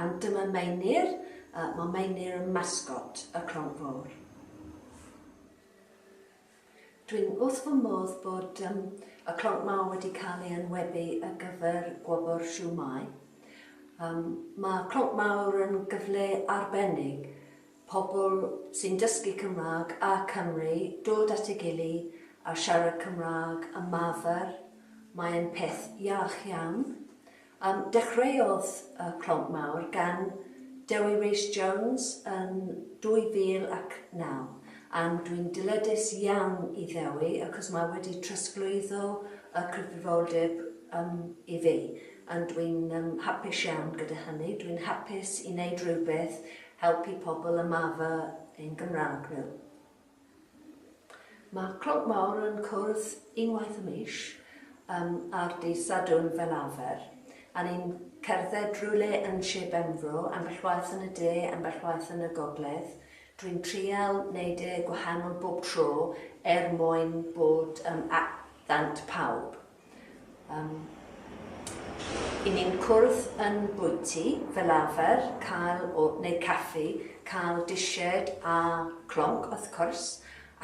Ond dyma Meinir, mae Meinir yn masgot y Clonc Fawr. Dwi'n wrth fy modd bod um, y Clonc Mawr wedi cael ei enwebu ar gyfer gwobr Siw Mai. Um, mae Clonc Mawr yn gyfle arbennig pobl sy'n dysgu Cymraeg a Cymru dod at ei gili a siarad Cymraeg y mafr. Mae'n peth iach iawn. Dechreuodd y Clonc Mawr gan Dewi Rees Jones yn 2009 and dwi'n dyledus iawn i Ddewi acos mae wedi trosglwyddo y cyfrifoldeb i fi and dwi'n hapus iawn gyda hynny. Dwi'n hapus i wneud rhywbeth helpu pobl ymarfer ein Gymraeg nhw. Mae'r Clwb Mawr yn cwrdd unwaith y mis, ar dydd Sadwrn fel arfer, a ni'n cerdded rywle yn Sir Benfro, ambell waith yn y de, ambell waith yn y gogledd. Dwi'n trial neud e gwahanol bob tro er mwyn bod at ddant pawb. Yym. I ni'n cwrdd yn bwyty, fel arfer, cael o, neu caffi, cael disied a clonc wrth cwrs,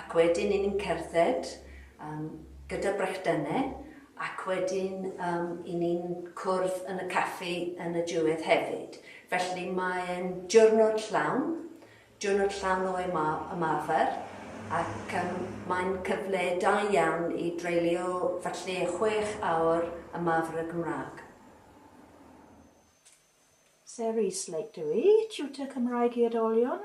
ac wedyn i ni'n cerdded, yym, gyda brechdyne, ac wedyn, yym, i ni'n cwrdd yn y caffi yn y diwedd hefyd. Felly mae'n diwrnod llawn, Diwrnod Llanoe yma ymarfer ac mae'n cyfle da iawn i dreulio falle chwech awr ymarfer y Gymraeg. Sarah Eastlake dw i, Tiwtor Cymraeg i Oedolion.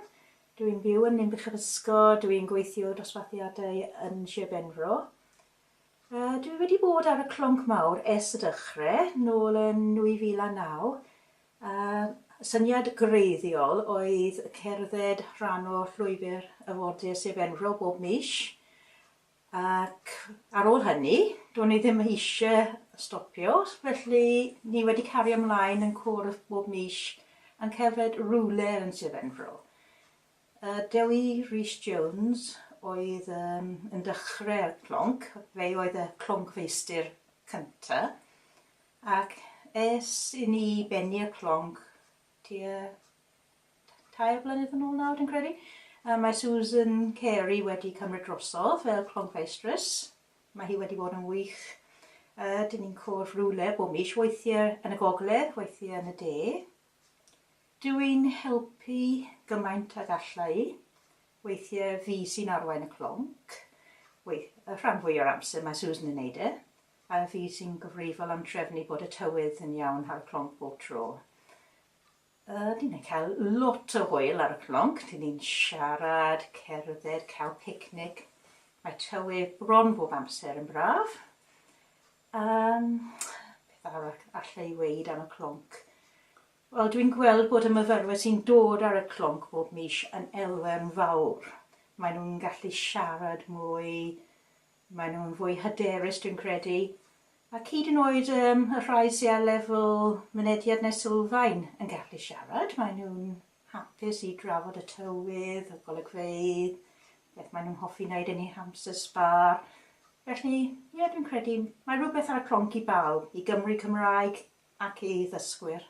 Dw i'n byw yn Ninbych-yr-ysgo, dw i'n gweithio dosbarthiadau yn Sir Benfro. Dw i wedi bod ar y clonc mawr ers y dechrau, nôl yn 2009, Y syniad gwreiddiol oedd cerdded rhan o Llwybr y Wardiau Sir Benfro bob mis ac ar ôl hynny, do'n i ddim eisiau stopio, felly ni wedi cario ymlaen yn cwrdd bob mis yn cerdded rywle yn Sir Benfro. Y Dewi Rees Jones oedd yn yn dechrau'r clonc, fe oedd y cloncfeistr cyntaf. Ac es i ni i bennu y clonc tua tair blynedd yn ôl nawr dwi'n credu, a mae Susan Carey wedi cymryd drosodd fel cloncfeistress. Mae hi wedi bod yn wych. Uh, dyn ni'n cwrdd rhywle bob mis, weithiau yn y gogledd, weithiau yn y de. Dw i'n helpu gymaint ag alla i. Weithiau fi sy'n arwain y clonc. Weith, y rhan fwy o'r amser mae Susan yn neud e. A fi sy'n gyfrifol am trefnu bod y tywydd yn iawn ar y clonc bob tro. Yy, ni'n cael lot o hwyl ar y clonc, dyn ni'n siarad, cerdded, cael picnic. Mae tywydd bron bob amser yn braf. Um, beth arall allai i weid am y clonc? Wel, dwi'n gweld bod y myfyrwyr sy'n dod ar y clonc bob mis yn elfen fawr. Mae nhw'n gallu siarad mwy, Maen nhw'n fwy hyderus dwi'n credu, ac hyd yn oed um, y rhai sy'n ar lefel mynediad neu sylfaen yn gallu siarad, maen nhw'n hapus i drafod y tywydd, y golygfeydd, beth maen nhw'n hoffi wneud yn eu hamser sbar. Felly, ie, yeah, dwi'n credu mae rhywbeth ar y cronc i bawb, i Gymru Cymraeg ac i ddysgwyr.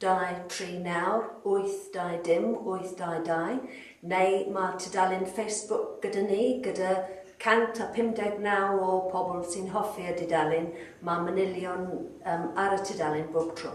Dau, tri, nawr, wyth, dau, dim, wyth, dau, dau, neu mae'r tudalen Facebook gyda ni, gyda 159 o pobl sy'n hoffi y dudalen, mae manylion um, ar y tudalen bob tro.